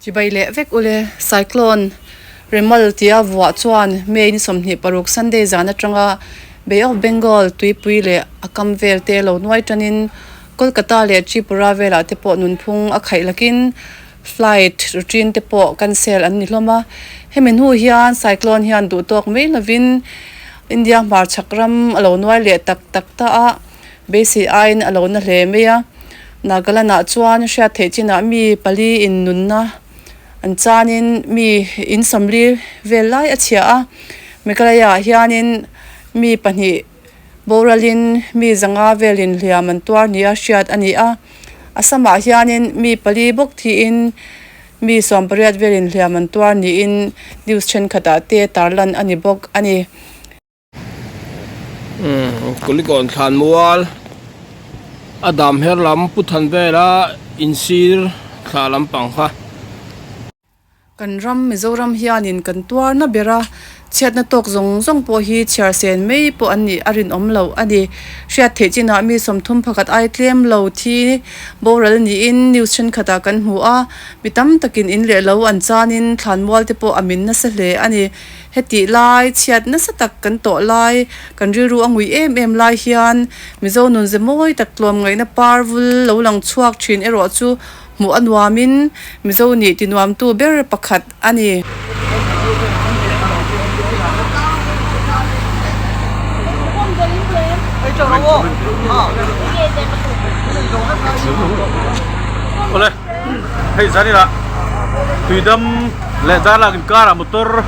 Chibai leh vek ule cyclone Remal tia vuah chuan May ni sawmhnih paruk Sunday zan atanga Bay of Bengal tuipui leh a kam vel te lo nuai tanin Kolkata leh Tripura velah te pawh nunphung a khaih lakin flight routine te pawh cancel an ni hlawm a. Hemi hnu hian cyclone hian duhtawk mai lovin India hmarchhak ram a lo nuai leh tak tak ta a. Basic aiin a lo na hle mai a. Nagaland ah chuan hriat theih chin ah mi pali in nun na an chan in mi in sawm li vel lai a chhiah a. Meghalaya ah hian in mi pahnih boral in mi zanga vel in hliam an tuar ni a hriat a ni a. Assam ah hian in mi pali bawk thi in mi sawm pariat vel in hliam an tuar ni in news thenkhat ah te tarlan a ni bawk a ni. Kulikawn thlan mual a dam her lam pu than vel a in sir thla lam pang kha. Kan ram Mizoram hian in kan tuar na ber a, chhiatna tawk zawng zawng pawh hi chhiar sen mai pawh an nih a rinawm lo a ni. Hriat theih chin ah mi sawmthum pakhat ai tlem lo thi boral ni in news thenkhat ah kan hmu a, mi tam tak in in leh lo an chan in thlan mual te pawh a min nasa hle a ni. Hetih lai chhiat nasa tak kan tawh lai, kan rilru a ngui em em lai hian Mizo nun ze mawi tak tluam ngaihna par vul lo lang chhuak thin erawh chu hmuh a nuamin Mizo nih tinuamtu ber pakhat a ni. hei zaninah tuidam leh darlak inkarah motor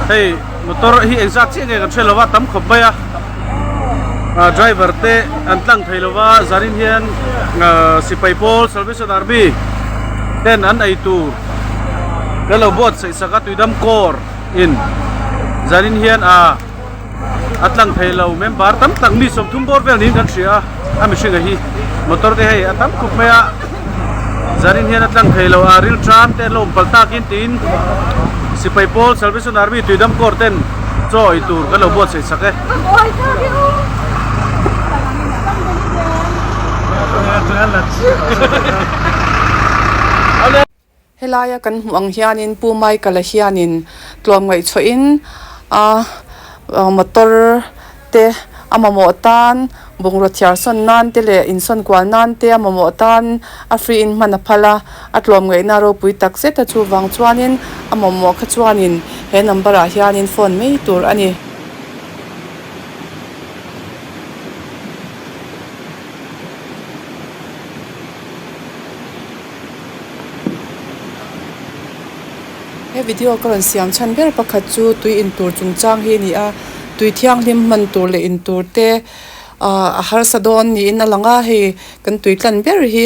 hei motor hi engzat chiah nge kan hre lova tam khawp mai a ah, driver te an tlang thei lova zanin hian ah, sipai pawl salvation army ten an ei tur kan lo buat sehsak a tuidam kawr in zanin hian a ah, a tlan thei lo member tam tak mi sawmthum bawr vel niin kan hria a a mihringa hi motor te hei a tam khawp mai a zanin hian a tlan thei lo a ril tan te an lo awm palh tak in tiin sipai pawl salvation army tui dam kawr ten chaw awih tur kan lo buatsaih sak e Helaia kan hmuh ang hianin Pu Mai Kala hianin tluam ngaihchhuahin a motor te a mamawh tan bungrua thiar sawn nan te leh insawn kual nan te a mamawh tan a free in hman a phal a, a tluam ngaihna ropui tak zeta chu vang chuanin a mamawh kha chuanin he number ah hianin phone mai tur a ni. He video ka rawn siam chhan ber pakhat chu tui in tur chung chang hi a ni a, tui thianghlim hman tur leh in tur te ahh a harsa dawn niin a lang a, hei kan tui tlan ber hi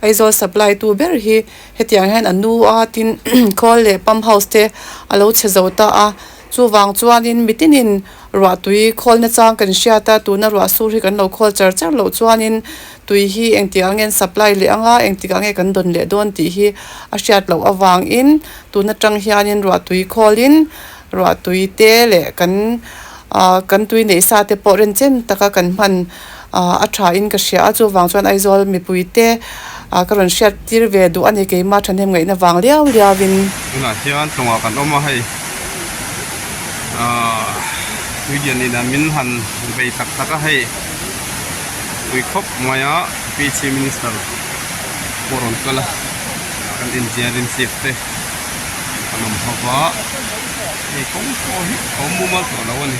Aizawl supply tu ber hi hetiang hian a nu a tin khawl leh pump house te a lo chhe zo ta a. Chuvang chuanin mitinin ruahtui khawlna chang kan hriat a, tuna ruah sur hi kan lo khawl char char loh chuanin tui hi engtikah nge an supply leh ang a, engtikah nge kan dawn leh dawn tih hi a hriat loh avangin tuna tang hianin ruahtui khawlin ruahtui te leh kan kan tui neih sa te pawh rentchen taka kan hman. Ahh a tha in ka hria a chu vang chuan Aizawl mipui te ah ka rawn hriat tir ve duh a ni keima thahnem ngaih na vang liau liau in. Tunah hian tlawngah kan awm a hei ahh puidian in ah min han bei tak tak a hei pui khawp mai a pi chief minister pawh rawn kal a kan in ziah rim chip te kan awm ho va hei kawng pawh hi a awm mumal tawh lo a ni.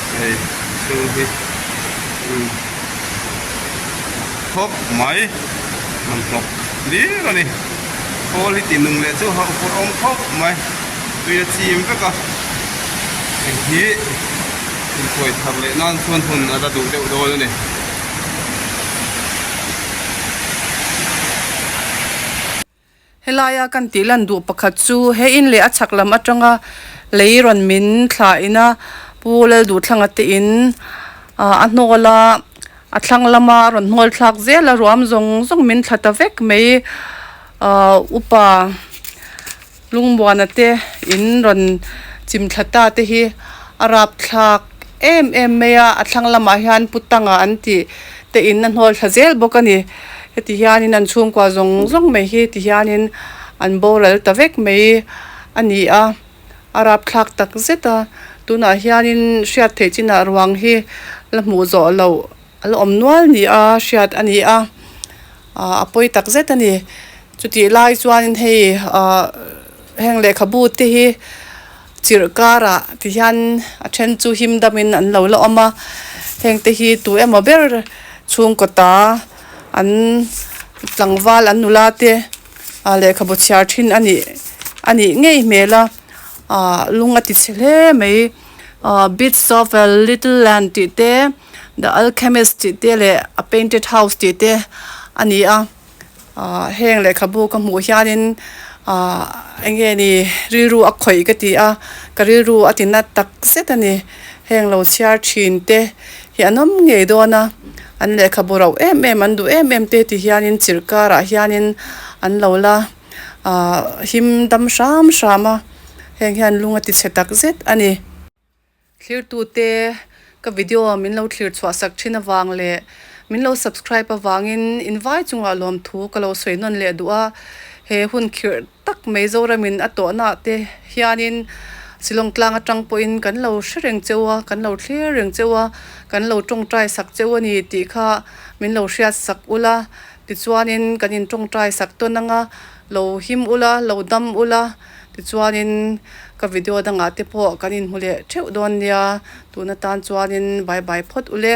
Hei thu hi ru thawk mai rawn hnawk lir a ni. Quality nung leh chu hauh fawr awm khawp mai. Tui a chim vek a. Hei hi in khuai thar leh nan chuan hun a la duh deuh dawn a ni. Helaia kan tih lan duh pakhat chu he in leh a chhak lam atanga lei rawn min thla ina Pu Lalduhtlanga te in a hnawl a, a thlang lama a rawn hnawl thlak zel a, ruam zawng zawng min thla ta vek mai upa Lungmuana te in rawn chim thla ta te hi a rap thlak. Em em mai a, a thlang lamah hian pu Tanga an tih te in a hnawlthla zel bawk a ni. Heti hianin an chhungkua zawng zawng mai hi ti hianin an boral ta vek mai a ni a, a rapthlak tak zet a, tunah hianin hriat theih chinah ruang hi la hmuh zawh loh A la awm nual nia hriat a nia, a pawi tak zet a ni. Chutih lai chuanin hei heng lehkhabu te hi chirh karah ti hian a then chu him damin an lo la awm a, heng te hi tu emaw ber chhungkaw ta an tlangval an nula te lehkhabu chhiar thin a nih a nih ngei hmel a, lung a ti chhe hle mai. Bits of a little land tih te. The Alchemist tih te leh A Painted House tih te a ni a, ahh heng lehkhabu ka hmuh hianin ahh eng nge ni rilru a khawih ka ti a, ka rilru a ti nat tak zet a ni, heng lo chhiar thin te hi an awm ngei dawn a, an lehkhabu rauh em em an duh em em te ti hianin chirh karah hianin an lo la ahh him dam hram hram a, heng hian lung a tichhe tak zet a ni. Thlirtute, ka video min lo thlir chhuahsak thin avang leh min lo subscribe avangin in vai chungah lawmthu ka lo sawi nawn leh duh a, he hun khirh tak mai Zoramin a tawhnah te hianin Silawng tlang atang pawhin kan lo hre reng cheu a, kan lo thlir reng cheu a, kan lo tawngtai sak cheu a ni tih kha min lo hriatsak ula, tichuanin kan in tawngtai sak tawn anga. Lo him ula, lo dam ula, tichuanin ka video dangah te pawh kan inhmu leh theuh dawn nia, tuna tan chuanin bye bye phawt ule.